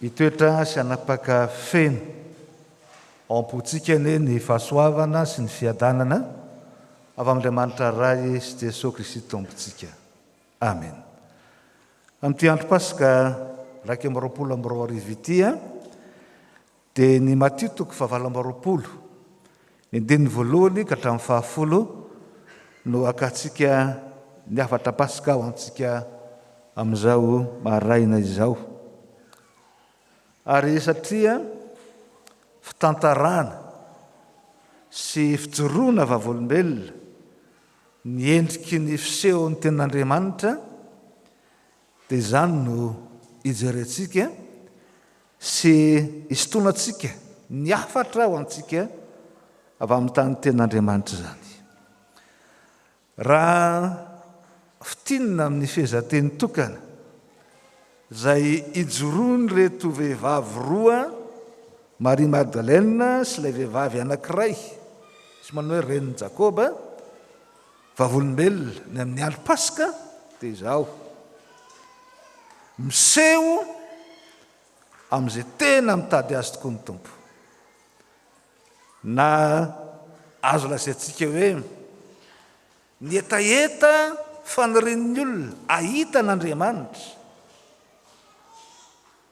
Hitoetra sy hanapaka feno ao am-pontsika anie ny fahasoavana sy ny fiadanana avy amin'Andriamanitra Ray sy Jesoa Kristy Tompontsika. Amena. Amin'ity andro Paska iraika amby roapolo amby roa arivo ity, Dia ny Matio toko fahavalo amby roapolo, ny andininy voalohany ka hatramin'ny fahafolo no hakantsika ny hafatra Paska ho antsika amin'izao maraina izao. Ary satria fitantarana sy fijoroana vavolombelona ny endriky ny fisehon'ny Tenin'Andriamanitra Dia izany no ijerentsika sy isintonantsika ny hafatra ho antsika avy amin'ny tanin'ny Tenin'Andriamanitra izany. Raha fintinina amin'ny fehezanteny tokana izay ijoroan'ireto vehivavy roa, Maria Magdalena sy ilay vehivavy anankiray, sy manao hoe renin'i Jakoba, Vavolombelona ny amin'ny alo paska dia izao, miseho amin'izay tena mitady azy tokoa ny Tompo. Na azo lazaintsika hoe ny hetaheta fanirian'ny olona ahita an'Andriamanitra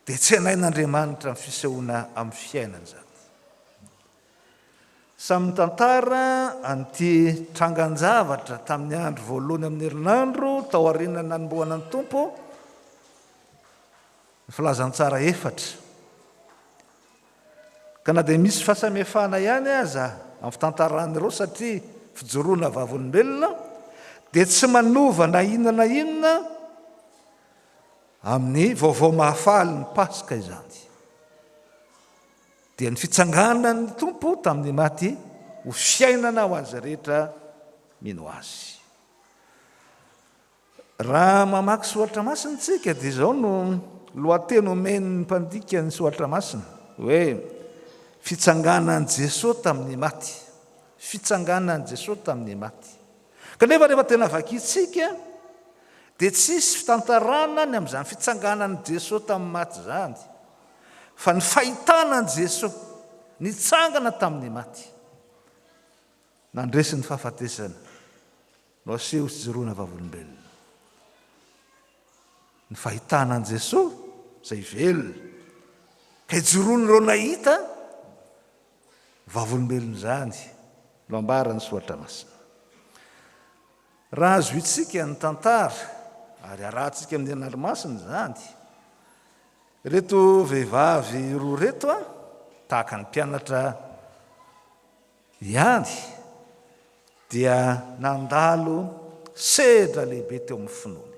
dia tsenain'Andriamanitra amin'ny fisehoana amin'ny fiainany izany. Samy mitantara an'ity trangan-javatra tamin'ny andro voalohany amin'ny herinandro taorian'ny nanombohana ny Tompo ny Filazantsara efatra. Ka na dia misy fahasamihafana ihany aza amin'ny fitantaran'ireo satria fijoroana vavolombelona, dia tsy manova na inona na inona amin'ny vaovao mahafaly ny Paska izany. Dia ny fitsanganan'ny Tompo tamin'ny maty ho fiainana ho an'izay rehetra mino Azy. Raha mamaky soratra masina isika dia izao no lohateny omen'ny mpandika ny soratra masina hoe fitsanganan'i Jesoa tamin'ny maty. Fitsanganan'i Jesoa tamin'ny maty. Kanefa rehefa tena vakintsika dia tsisy fitantarana ny amin'izany fitsanganan'i Jesoa tamin'ny maty izany. fa ny fahitana an'i Jesoa nitsangana tamin'ny maty, nandresy ny fahafatesana no aseho sy joroana vavolombelona. Ny fahitana an'i Jesoa izay velona, ka ijoroan'ireo nahita vavolombelona izany no ambaran'ny Soratra Masina. Raha azointsika ny tantara ary arahantsika amin'ny Anarmasina izany, Ireto vehivavy roa ireto a, tahaka ny mpianatra ihany, dia nandalo sedra lehibe teo amin'ny finoany.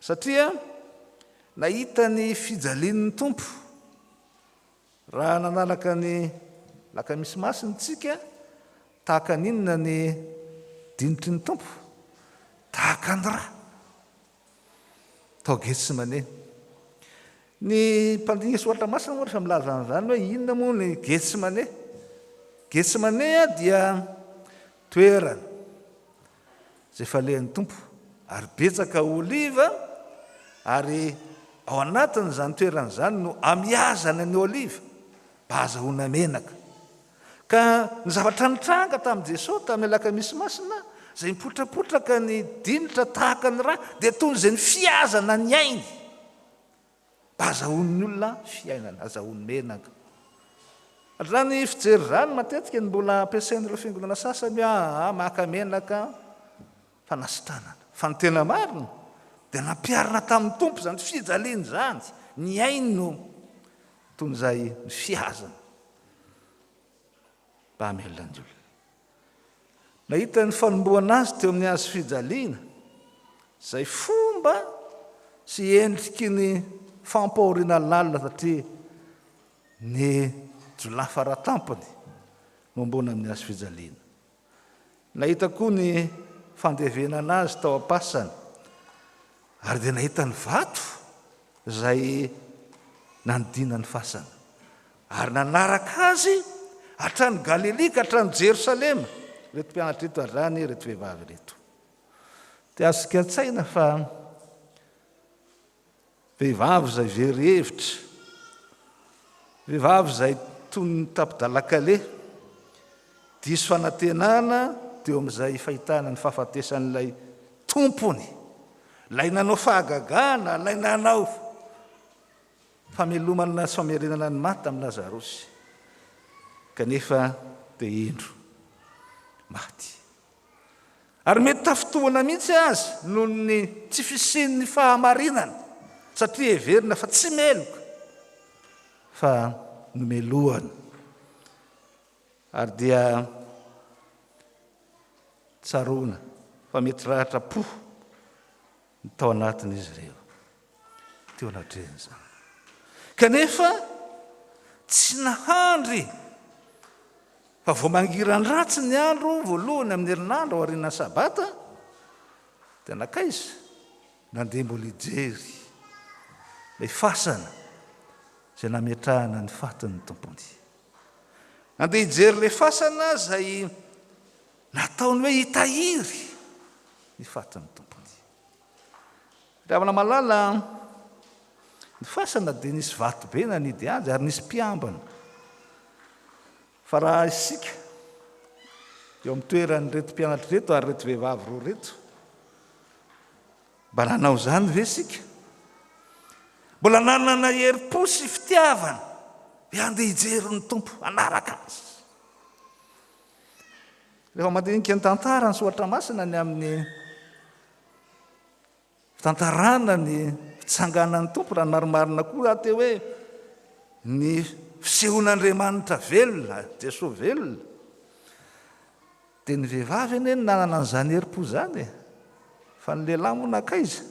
Satria nahita ny fijalian'ny Tompo. Raha nanaraka ny Lakamisy Masina isika, tahaka ny inona ny dinitry ny Tompo? Tahaka ny ra, Tao Getsemane. Ny mpandinika Soratra Masina moa rehefa milaza an'izany hoe inona moa ny Getsemane. Getsemane dia toerana izay falehan'ny Tompo ary betsaka oliva ary ao anatin'izany toerana izany no amiazany ny oliva mba azahoana menaka. Ka ny zavatra nitranga tamin'i Jesoa tamin'ny Alakamisy Masina, izay mipotrapotraka ny dinitra tahaka ny rà, dia toy izay ny fihazana ny ainy. Mba azahoan'ny olona fiainana, azahoany menaka. Raha ny fijery izany, matetika ny mbola ampiasain'ireo fiangonana sasany hoe, Aa, maka menaka. Fanasitranana. Fa ny tena marina dia nampiharina tamin'ny Tompo izany fijaliana izany, ny ainy no toy ny izay nifihazana mba hamelona ny olona. Nahita ny fanombohana azy teo amin'ny hazo fijaliana izay fomba sy endriky ny fampahoriana lalina satria ny jiolahy fara tampony no ambony amin'ny hazo fijaliana. Nahita koa ny fandevenana azy tao am-pasany, ary dia nahita ny vato izay nanodinana ny fasana, ary nanaraka azy hatrany Galilia ka hatrany Jerosalema ireto mpianatra ireto ary izany ireto vehivavy ireto. Dia azontsika an-tsaina fa Vehivavy izay very hevitra, vehivavy izay toy ny tapi-dalan-kaleha, diso fanantenana teo amin'izay fahitana ny fahafatesan'ilay tompony, ilay nanao fahagagana, ilay nanao famelomana sy famerenana ny maty tamin'i Lazarosy, kanefa dia indro maty. Ary mety tafintohina mihitsy aza noho ny tsy fisian'ny fahamarinana, satria heverina fa tsy meloka fa nomelohana. Ary dia tsaroana fa mety ratra-po. Ny tao anatin'izy ireo, teo anatrehan'izany. Kanefa, tsy nahandry fa vao mangiran-dratsy ny andro voalohany amin'ny herinandro aorianan'ny Sabata, dia nankaiza? Nandeha mbola hijery ilay fasana izay nametrahana ny fatin'ny Tompony. Nandeha hijery ilay fasana izay Nataony hoe hitahiry ny fatin'ny tompony. Ry havana malala, ny fasana dia nisy vato be nanidy azy ary nisy mpiambina. Fa raha isika, eo amin'ny toeran'ireto mpianatra ireto ary ireto vehivavy roa ireto, mba nanao izany ve isika? Mbola nanana herim-po sy fitiavana hoe handeha hijery ny Tompo, hanaraka Azy. Rehefa mandinika ny tantara ny soratra masina ny amin'ny tantarana ny fitsanganan'ny tompo raha nymarimarina koa aty hoe ny fisehon'andriamanitra velona jesosy velona dia ny vehivavy anie ny nanana an'izany herim-po zany e fa ny lehilahy moa nankaiza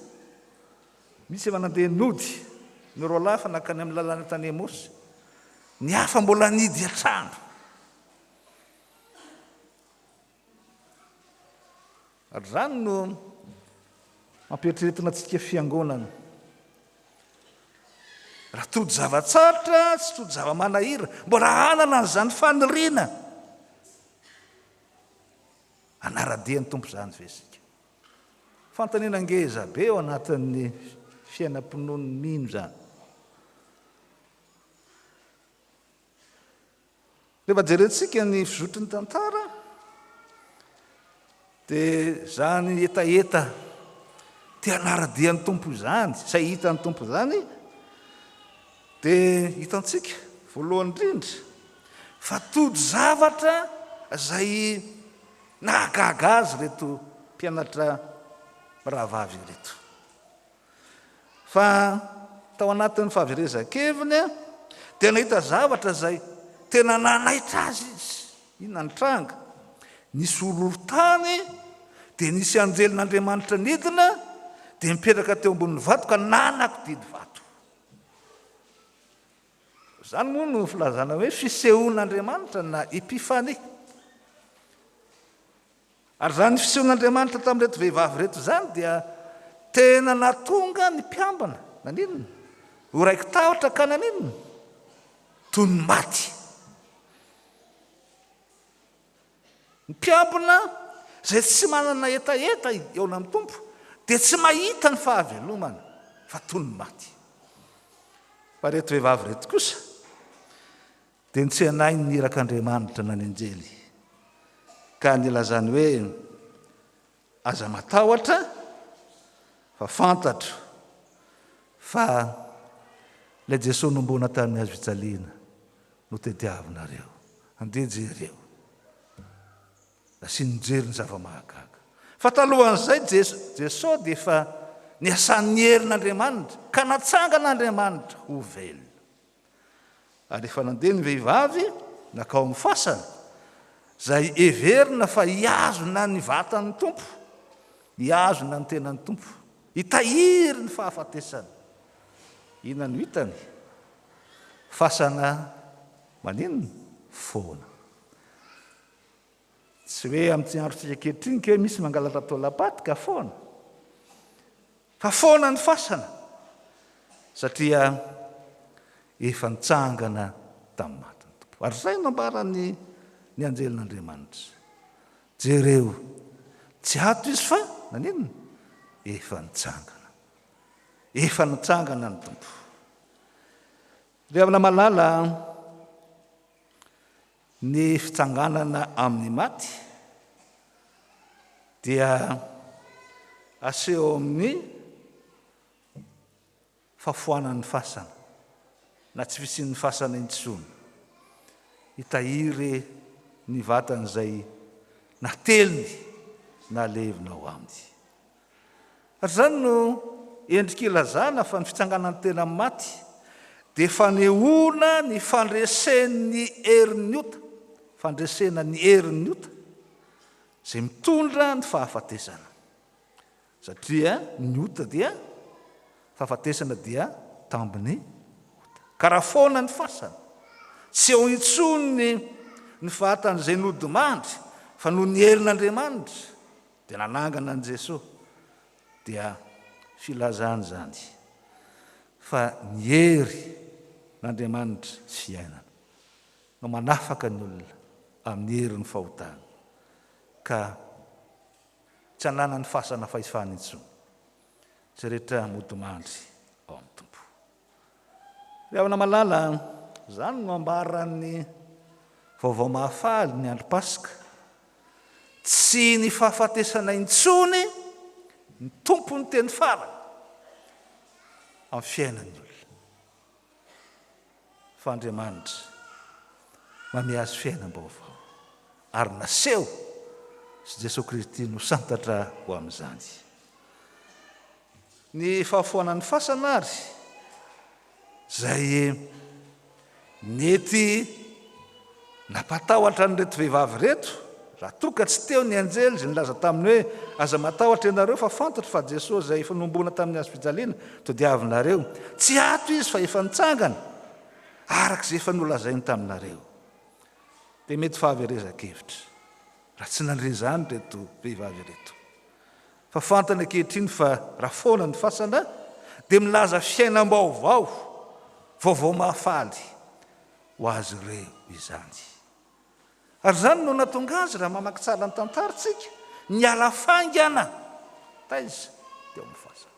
misy efa nandeha nody ny roalahy fa nankany amin'ny lalana tany emosy ny hafa mbola nidy an-trano Izany no ampieritrertina antsika fiangonana. Raha tody zava-tsarotra sy tody zava-manahira, mbola hanana an'izany faniriana. Anara-dia ny Tompo izany ve isika? Fanontaniana ngeza be eo anatin'ny fiainam-pinoan'ny mino izany. Rehefa jerentsika ny fizotry ny tantara dia izany hetaheta te hanara-dia ny Tompo izany, izay hita ny Tompo izany, dia hitantsika voalohany indrindra fa tojo zavatra izay nahagaga azy ireto mpianatra mirahavavy ireto. Fa tao anatin'ny fahaverezan-keviny dia nahita zavatra izay tena nanaitra azy izy. Inona ny tranga? Nisy horohorontany, dia nisy anjelin'Andriamanitra nidina, dia nipetraka teo ambonin'ny vato ka nanakodiny vato. Izany moa no filazana hoe fisehoan'Andriamanitra na epifania. Ary izany fisehon'Andriamanitra tamin'ireto vehivavy ireto izany dia tena nahatonga ny mpiambina, naninona? ho raiki-tahotra ka naninona? toy ny maty. Ny mpiambina izay tsy manana hetaheta eo amin'ny Tompo dia tsy mahita ny fahavelomana fa toy ny maty. Fa ireto vehivavy ireto kosa, Dia nitsenainy ny irak'Andriamanitra na ny anjely, ka nilazany hoe, Aza matahotra, fa fantatro fa Ilay Jesoa nombona tamin'ny hazo fijaliana no tadiavinareo. Andeha jereo. Nasiany nijery ny zava-mahagaga. Fa talohan'izay, Jesoa dia efa niasan'ny herin'Andriamanitra, ka natsangan'Andriamanitra ho velona. Ary efa nandeha ny vehivavy nankao amin'ny fasana, izay heverina fa hihazona ny vatan'ny Tompo, hihazona ny tenan'ny Tompo, hitahiry ny fahafatesany. Inona no hitany? Fasana maninona? Foana. Tsy hoe amin'ity androntsika ankehitriny kay misy mangalatra taolam-paty ka foana. Fa foana ny fasana satria efa nitsangana tamin'ny maty ny Tompo. Ary izay no nambaran'ny ny anjelin'Andriamanitra. Jereo, tsy ato izy fa naninona? Efa nitsangana. Efa nitsangana ny Tompo. Ry havana malala, Ny fitsanganana amin'ny maty dia aseho amin'ny fahafoanan'ny fasana na tsy fisian'ny fasana intsony. Hitahiry ny vatan'izay nateliny nalevina ao aminy. Ary izany no endrika ilazana fa ny fitsanganan'ny tena amin'ny maty dia fanehoana ny fandresen'ny herin'ny ota, fandresena ny herin'ny ota izay mitondra ny fahafatesana. Satria ny ota dia, fahafatesana dia tambin'ny ota. Ka raha foana ny fasana, tsy eo intsony ny fahatan'izay nodimandry fa noho ny herin'Andriamanitra, Dia nanangana an'i Jesoa dia filazana izany fa ny hery n'Andriamanitra sy fiainana no manafaka ny olona amin'ny herin'ny fahotana ka tsy ananany fasana fahefana intsony izay rehetra modimandry ao amin'ny Tompo. Fihaona malala, izany no ambaran'ny Vaovao Mahafaly ny andro Paska. Tsy ny fahafatesana intsony ny tompon'ny teny farany amin'ny fiainan'ny olona, fa Andriamanitra manome azy fiainam-baovao, ary naseho sy Jesoa Kristy no santatra ho amin'izany. Ny fahafoanan'ny fasana ary izay nety nampatahotra an'ireto vehivavy ireto, raha toa ka tsy teo ny anjely izay nilaza taminy hoe, Aza matahotra ianareo fa fantatro fa Jesoa izay efa nohomboana tamin'ny hazo fijaliana todiavinareo. Tsy ato Izy fa efa nitsangana, araka izay efa nolazainy taminareo. Dia mety fahaverezan-kevitra raha tsy nandre izany ireto vehivavy ireto. Fa fantany ankehitriny fa raha foana ny fasana dia milaza fiainam-baovao vaovao mahafaly ho azy ireo izany. Ary izany no nahatonga azy, raha mamaky tsara ny tantarantsika, niala faingana taiza teo amin'ny fasana.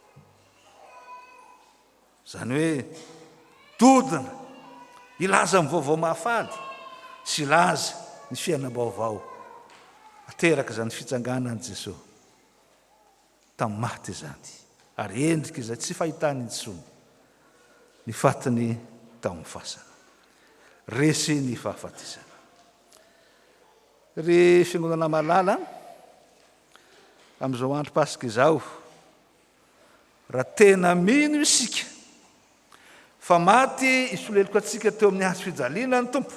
Izany hoe, dodona, hilaza ny vaovao mahafaly sy hilaza ny fiainam-baovao aterak'izany fitsanganan'i Jesoa tamin'ny maty izany, ary endrika izay tsy fahitana intsony ny fatiny tamin'ny fasana. Resy ny fahafatesana. Ry Fiangonana malala, amin'izao andro Paska izao, Raha tena mino isika fa maty i solelok'antsika teo amin'ny hazo fijaliana ny Tompo,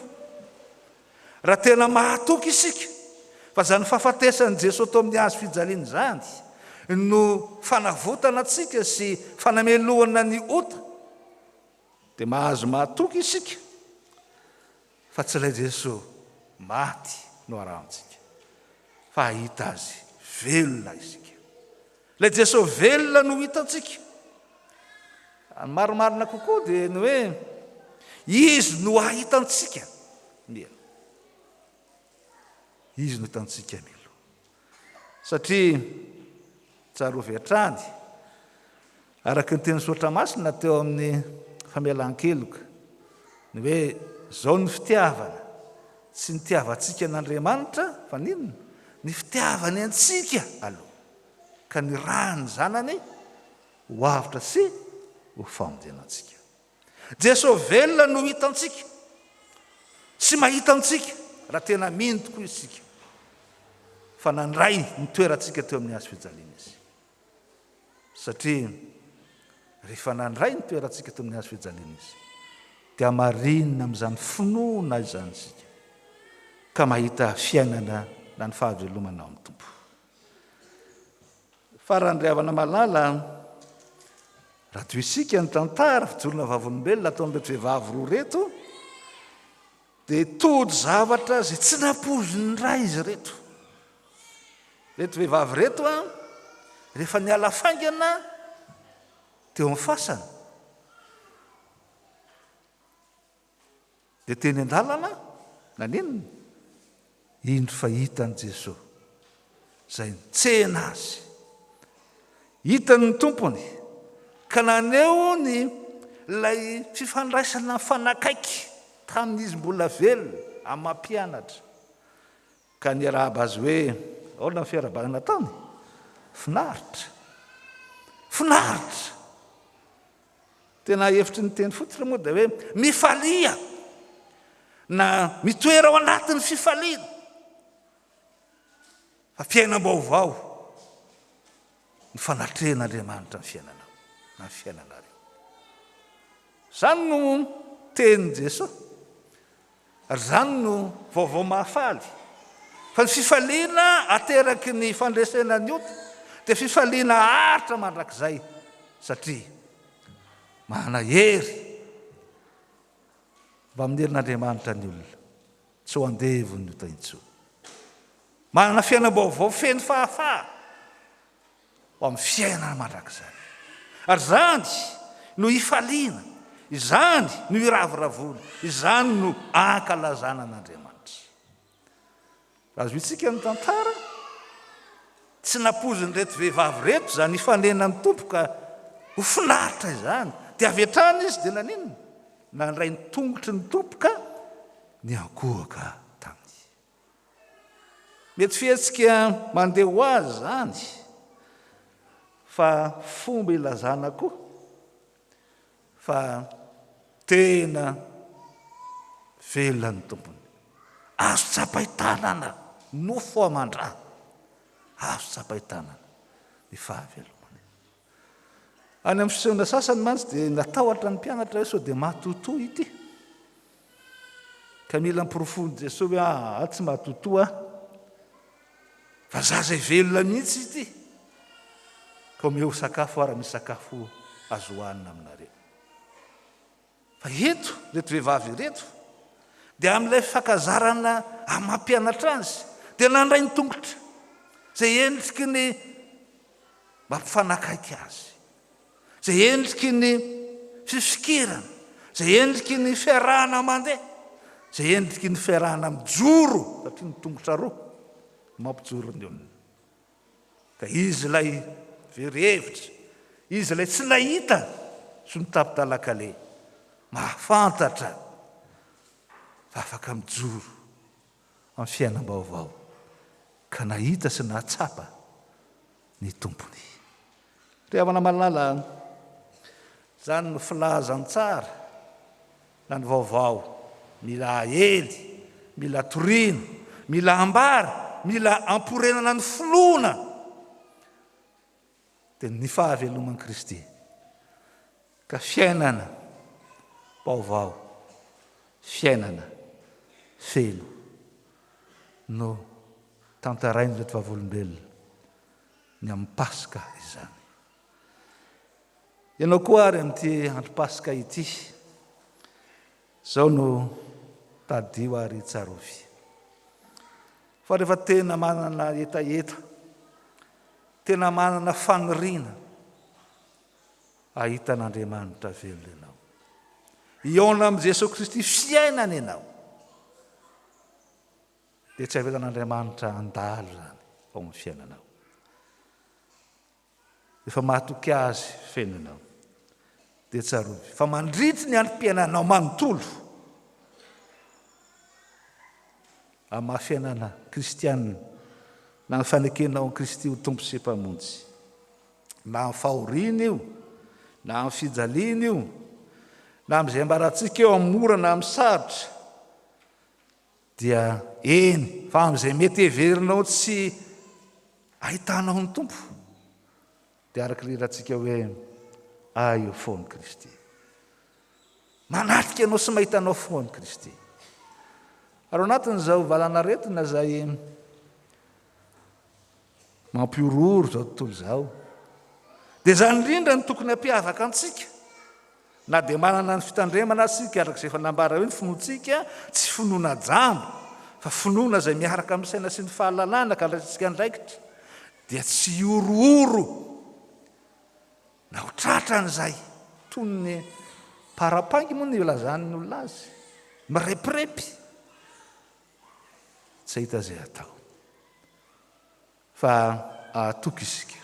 raha tena mahatoky isika fa izany fahafatesan'i Jesoa teo amin'ny hazo fijaliana izany no fanavotana antsika sy fanamelohana ny ota, dia mahazo mahatoky isika. Fa tsy ilay Jeso maty no arahantsika, fa hahita Azy velona isika. Ilay Jeso velona no hitantsika. Ny marimarina kokoa dia ny hoe Izy no ahitantsika mialoha. Izy no hitantsika mialoha. Satria tsarovy hatrany, araka ny tenin'ny Soratra Masina teo amin'ny famelan-keloka, ny hoe izao ny fitiavana, tsy ny tiavantsika an'Andriamanitra, fa ny inona? Ny fitiavany antsika aloha, ka nirahany ny Zanany ho avotra sy ho famonjena antsika. Jesoa velona no hitantsika sy mahita antsika raha tena mino tokoa isika fa nandray ny toerantsika teo amin'ny hazo fijaliana Izy. Satria rehefa nandray ny toerantsika teo amin'ny hazo fijaliana Izy, dia hamarinina amin'izany finoana izany isika, ka mahita fiainana na ny fahavelomana ao amin'ny Tompo. Farany ry havana malala a! Raha toa isika ny tantara fijoroana vavolombelona ataon'ireto vehivavy roa ireto dia tody zavatra izay tsy nampoizin'ny ray izy ireto. Ireto vehivavy ireto a, rehefa niala faingana teo amin'ny fasana, Dia teny an-dalana nanenina, indro fa hitan'i Jesoa izay nitsena azy. Hitany ny Tompony ka naneho ny ilay fifandraisana mifanakaiky tamin'izy mbola velona amin'ny maha mpianatra ka niarahaba azy hoe, ahoana ny fiarahabana nataony? Finaritra! Finaritra! Tena hevitry ny teny fototra moa dia hoe mifalia na mitoera ao anatin'ny fifaliana fa fiainam-baovao ny fanatrehan'Andriamanitra ny fiainanao na ny fiainanareo. Izany no tenin'i Jesoa. Ary izany no vaovao mahafaly, fa ny fifaliana ateraky ny fandresena ny ota dia fifaliana haharitra mandrakizay, satria manana hery avy amin'ny herin'Andriamanitra ny olona, tsy ho andevon'ny ota intsony. Manana fiainam-baovao feno fahafaha, ho amin'ny fiainana mandrakizay. Ary izany no hifaliana, izany no hiravoravoana, izany no ankalazana an'Andriamanitra. Razointsika ny tantara, tsy nampoizin'ireto vehivavy ireto izany hifanenan'ny Tompo ka ho finaritra izany, dia avy hatrany izy dia naninona? Nandray ny tongotry ny Tompo ka niankohoka taminy. Mety fihetsika mandeha ho azy izany, fa fomba ilazana koa fa tena velona ny tompony. Azo tsapain-tanana, nofo aman-drà, azo tsapain-tanana ny fahavelomany. Any amin'ny fisehoana sasany mantsy dia natahotra ny mpianatra hoe sao dia matotoa ity. Ka mila amporofoin'i Jesoa hoe aa ah, ah, tsy matotoa fa zaza velona mihitsy ity. Ka omeo sakafo ara misy sakafo azo hohanina aminareo. Fa eto, ireto vehivavy ireto, dia amin'ilay fankazarana amam-pianatra azy, dia nandray ny tongotra, izay endriky ny mampifanakaiky azy, izay endriky ny fifikirana, izay endriky ny fiarahana mandeha, izay endriky ny fiarahana mijoro, satria ny tongotra roa no mampijoro ny olona. Ka izy ilay very hevitra, izy ilay tsy nahita sy nitapitala-kale, mahafantatra fa afaka mijoro amin'ny fiainam-baovao, ka nahita sy nahatsapa ny Tompony. Ry havana malala a! Izany no filazantsara na ny vaovao mila aely, mila torina, mila ambara, mila amporenana ny finoana dia ny fahaveloman'i Kristy ka fiainana baovao, fiainana feno no tantarain'ireto vavolombelona. Ny amin'ny Paska izany. Ianao koa àry amin'ity andro Paska ity, izao no tadidio ary tsarovy, fa rehefa tena manana hetaheta, tena manana faniriana hahita an'Andriamanitra velona ianao, hihaona amin'i Jesoa Kristy fiainana ianao, Dia tsy avelan'Andriamanitra handalo izany ao amin'ny fiainanao. Efa mahatoky Azy feno ianao. Dia tsarovy fa mandritry ny androm-piainanao manontolo, amin'ny maha fiainana kristianina, na ny fanekenao an'i Kristy ho Tompo sy Mpamonjy, na amin'ny fahoriana io, na amin'ny fijaliana io, na amin'izay ambarantsika eo amin'ny mora na amin'ny sarotra, Dia eny fa amin'izay mety heverinao tsy ahitanao ny Tompo, dia araka ilay hirantsika hoe, Ahy eo foan Kristy. Manatrika anao sy mahita anao foan Kristy. Ary ao anatin'izao valanaretina izay Mampihorohoro izao tontolo izao. Dia izany indrindra no tokony hampiavaka antsika. Na dia manana ny fitandremana aza isika araka izay efa nambara hoe ny finoantsika tsy finoana jamba fa finoana izay miaraka amin'ny saina sy ny fahalalana ka andraisantsika andraikitra dia tsy hihorohoro na ho tratran'izay toy ny parapangy moa ny ilazan'ny olona azy. Mirepirepy. tsy hahita izay hatao fa hahatoky isika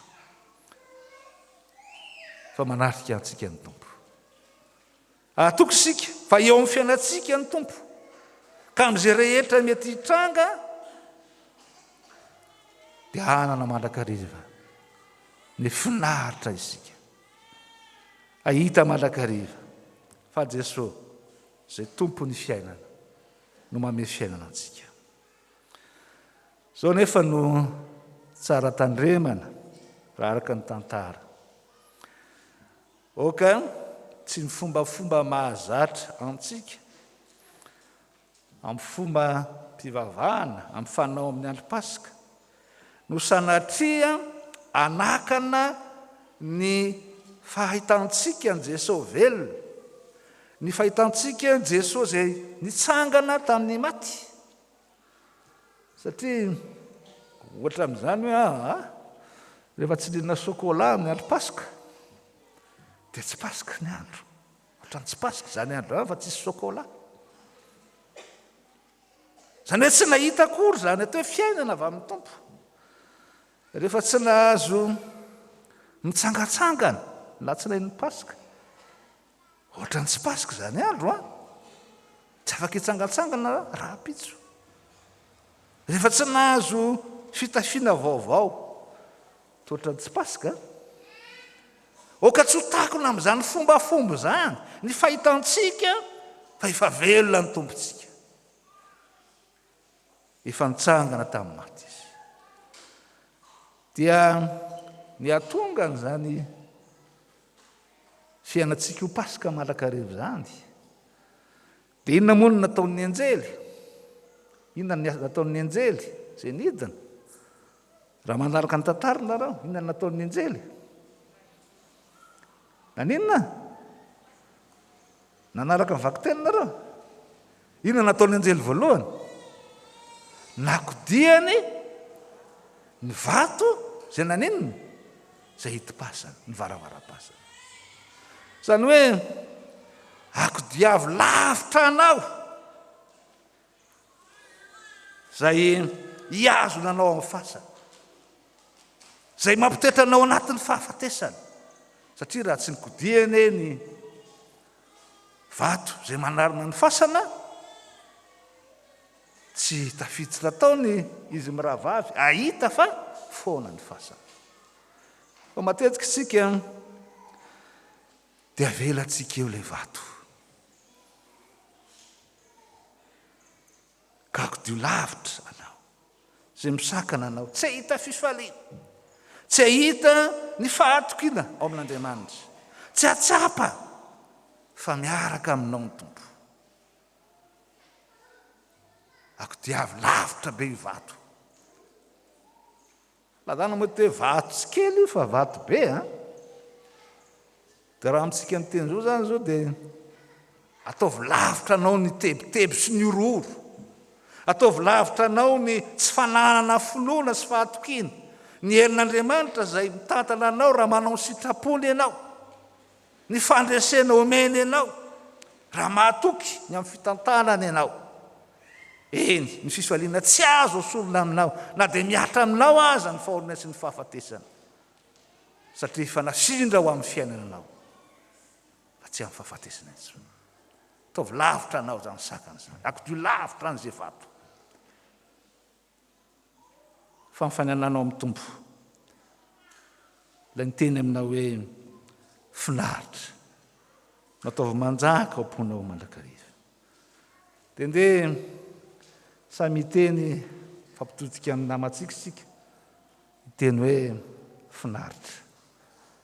fa manatrika antsika ny tompo hahatoky isika fa eo amin'ny fiainantsika ny tompo ka amin'izay rehetra mety hitranga dia hanana mandrakariva ny finaritra isika ahita mandrakariva fa jesoa izay tompo ny fiainana no manome fiainana antsika. Izao nefa no tsara tandremana raha araka ny tantara. Oka tsy ny fombafomba mahazatra antsika amin'ny fomba mpivavahana, amin'ny fanao amin'ny andro Paska, no sanatria hanakana ny fahitantsika an'i Jesoa velona, ny fahitantsika an'i Jesoa izay nitsangana tamin'ny maty. Satria ohatra amin'izany hoe aah, rehefa tsy nihinana chocolat amin'ny andro Paska, dia tsy Paska ny andro. Ohatran'ny tsy Paska izany andro izany fa tsisy chocolat. Izany hoe tsy nahita akory izany atao hoe fiainana avy amin'ny Tompo. Rehefa tsy nahazo mitsangatsangana latsinain'ny Paska, ohatran'ny tsy Paska izany andro an, tsy afaka hitsangatsangana rahampitso. Rehefa tsy nahazo fitafiana vaovao, Toetran'ny tsy Paska? Oka tsy ho takona amin'izany fombafomba izany ny fahitantsika fa efa velona ny Tompontsika. Efa nitsangana tamin'ny maty Izy. Dia ny hahatonga an'izany fiainantsika ho Paska manrakariva izany, Dia inona moa no nataon'ny anjely? Inona ny nataon'ny anjely izay nidina? Raha manaraka ny tantara narao, inona ny nataon'ny anjely? Naninona? Nanaraka ny vakiteny narao? Inona ny nataon'ny anjely voalohany? Nakodiany ny vato izay naninona? izay hidim-pasana, ny varavaram-pasana. Izany hoe, akodiavo lavitra anao izay hihazona anao amin'ny fasana, izay mampitoetra anao anatin'ny fahafatesana, satria raha tsy nikodihana ny vato izay manarina ny fasana, Tsy tafiditra natao ny izy mirahavavy hahita fa foana ny fasana. Fa matetika isika dia avelantsika eo ilay vato. Kagodio lavitra anao izay misakana anao tsy hahita fifaliana, tsy hahita ny fahatokiana ao amin'Andriamanitra, tsy hahatsapa fa miaraka aminao ny Tompo. Ako dia avy lavitra be io vato. Lagana mety hoe vato tsy kely io fa vato be a. Dia raha amintsika ny teny izao zany izao dia ataovy lavitra anao ny tebiteby sy ny horohoro. Ataovy lavitra anao ny tsy fananana finoana sy fahatokiana. Ny herin'Andriamanitra izay mitantana anao raha manao ny sitrapony ianao. Ny fandresena omeny anao raha mahatoky ny amin'ny fitantanana ianao, eny, ny fifaliana tsy azo esorina aminao na dia mihatra aminao aza ny fahoriana sy ny fahafatesana, satria efa nafindra ho amin'ny fiainana anao fa tsy amin'ny fahafatesana intsony. Ataovy lavitra anao izany sakana izany, akodio lavitra an'izay vato. Fa ny fanananao amin'ny Tompo. Ilay miteny aminao hoe finaritra. Nataovy manjaka ao am-ponao mandrakariva. Dia ndeha samy hiteny fampitodika amin'ny namantsika isika. Hiteny hoe finaritra.